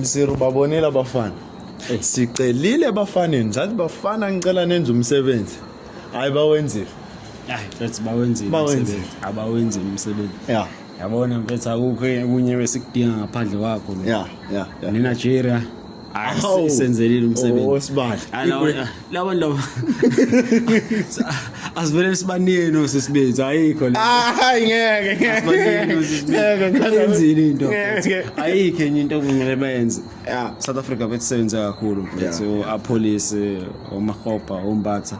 Msiru babonile abafana. Eh. Sicelile ebafaneni, sathi bafana ngicela nenze umsebenzi. Hayi bawenzile. Hayi, mfethu bawenzile. Bawenzile. Abawenzile umsebenzi. Yeah. Yabona mfethu akukho kunye besikudinga ngaphandle kwakho. Yeah, yeah. Nina Nigeria. Awu senzelile umsebenzi. Osibali. laba laba asivele sibanini osisibenzi ayikho le hayi ngeke ngeke ngeke ngenzile into ayikho enye into okumele bayenze South Africa bethisebenze kakhulu mfethu a police omahopa ombatha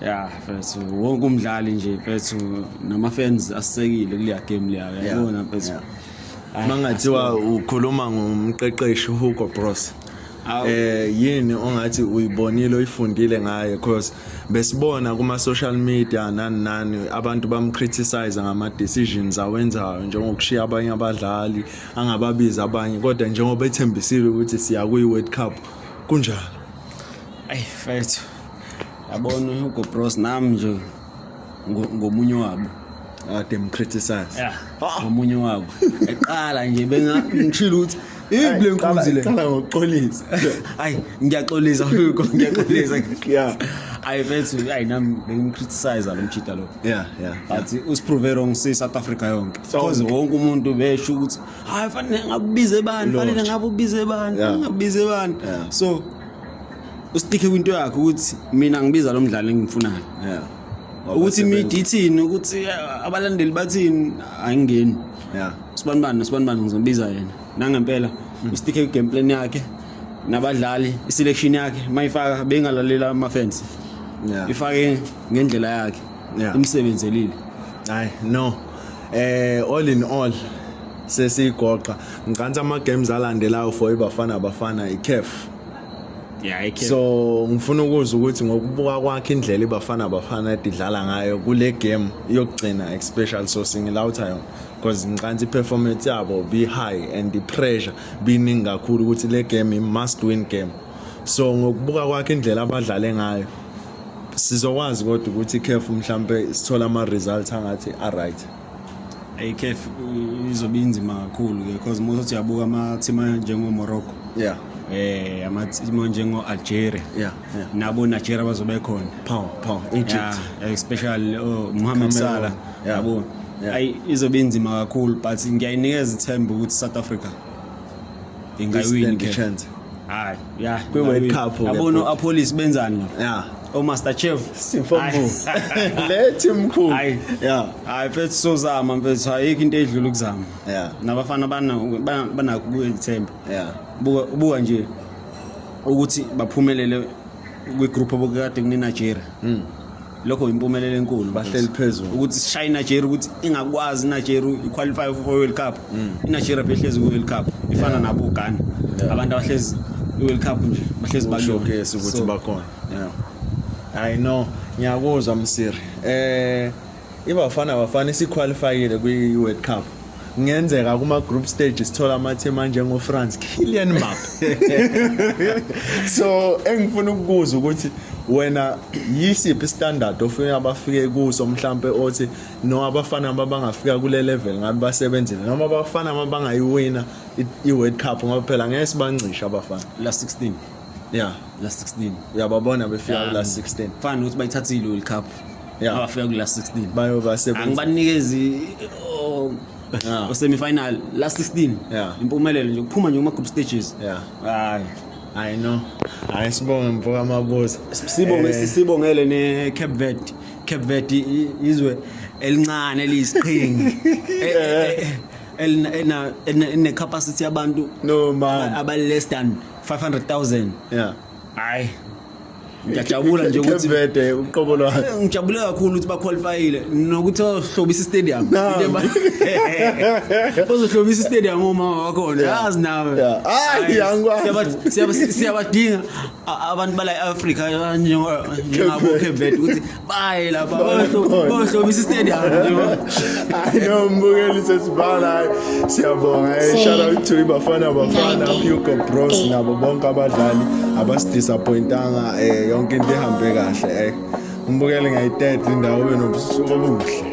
yeah mfethu wonke umdlali nje mfethu nama fans asekile kuleya game leya yabona mfethu mangathiwa ukhuluma ngomqeqeshi Hugo Broos eh yini ongathi uyibonile uyifundile ngaye because besibona kuma social media nani nani abantu bamcriticize ngama decisions awenzayo njengokushiya abanye abadlali angababiza abanye kodwa njengoba ethembisile ukuthi siya kuyi World Cup kunjalo ay mfethu yabona uHugo Bros nami nje ngomunye wabo ade mcriticize ngomunye wabo eqala nje bengangishilo ukuthi ibi le nkunzi le qala ngokuxolisa hayi ngiyaxolisa fuko ngiyaxolisa yeah ayi bethu ayi nami bengimcriticize lo mjita lo yeah yeah but usiprove wrong si South Africa yonke because wonke umuntu besho ukuthi hayi fanele ngakubize bani fanele ngabubize bani ngabubize bani so ustikhe kwinto yakhe ukuthi mina ngibiza lo mdlalo engimfunayo yeah ukuthi imidi ithini ukuthi eh, abalandeli bathini ayingeni yeah sibanibani sibanibani ngizobiza yena nangempela mm. ustikhe kwi game plan yakhe nabadlali iselection yakhe mayifaka bengalalela ama fans yeah ifake ngendlela yakhe imsebenzelile hayi no eh all in all sesiyigoqa ngicansa ama games alandelayo for ibafana bafana iCAF Yeah, I can. so ngifuna ukuzwa ukuthi ngokubuka kwakhe indlela ibafana bafana idlala ngayo kule game yokugcina especially so singilawutha yona because ngicansi i-performance yabo be high and i-pressure biningi kakhulu ukuthi le game i-must win game so ngokubuka kwakhe indlela abadlale ngayo sizokwazi kodwa ukuthi ikhefu mhlampe sithola ama-results angathi a-right ICAF izobe inzima kakhulu ke because most of yabuka ama team njengo Morocco yeah eh ama team njengo Algeria yeah, yeah. nabo Nigeria bazobe khona power power Egypt yeah, especially oh, Mohamed Salah yabo yeah. yeah. izobe inzima kakhulu but ngiyayinikeza ithemba ukuthi South Africa ingawini ke chance hayi ya kwi world cup yabona apolice benzani la ya o master chef simfombu lethi mkhulu hayi ya hayi mfethu sozama mfethu ayikho into edlula ukuzama ya nabafana bana bana kuyithemba ya buka buka nje ukuthi baphumelele kwi group obukade kune Nigeria mm. lokho yimpumelelo enkulu bahleli phezulu ukuthi sishaye iNigeria ukuthi ingakwazi iNigeria iqualify for World Cup mm. iNigeria behlezi ku World Cup ifana nabo Ghana abantu abahlezi iWorld Cup nje bahlezi bashokesa ukuthi bakhona yeah i know ngiyakuzwa msiri eh ibafana bafana isiqualifyile kwi World Cup kungenzeka kuma-group stage sithola amathima njengofrance killian map so engifuna ukukuza ukuthi wena yisiphi istandard ofuna abafike kuso mhlampe othi no abafana abangafika kule level ngabe basebenzile noma abafana abangayiwina i-world cup ngoba phela ngeke sibancishe abafana la 16 yeah la 16 uyababona befika kula 16 fana nokuthi bayithathile world cup yeah abafika kula 16 bayoba sebenza angibanikezi oh, yeah. semifinal la 16 yeah impumelelo nje kuphuma nje kuma group stages yeah hayi I know. Hayi sibonge mfoka Mabuza. Sibonge eh. sibongele ne Cape Verde. Cape Verde izwe elincane eliyisiqhingi. Eh, eh, eh, elina ena ene capacity yabantu no man abaless than 500,000 yeah hayi ngiyajabula nje ukuthi Vede uqobo lwakhe eh, ngijabule kakhulu ukuthi baqualifyile nokuthi ohlobisa istadium ozohlobisa istadium uma wakhona yazi nawe hayi angikwazi siyabadinga abantu bala eAfrica njengabo Cape Verde ukuthi Bye lapha. Bohlobisa istadium nje. I know mbukeli sesibala. Siyabonga. Eh, shout out to Ibafana Bafana, Hugo Bros eh. nabo bonke abadlali abasidisappointanga eh yonke into ihambe kahle eh. Umbukeli ngayitete indawo benobusuku obuhle.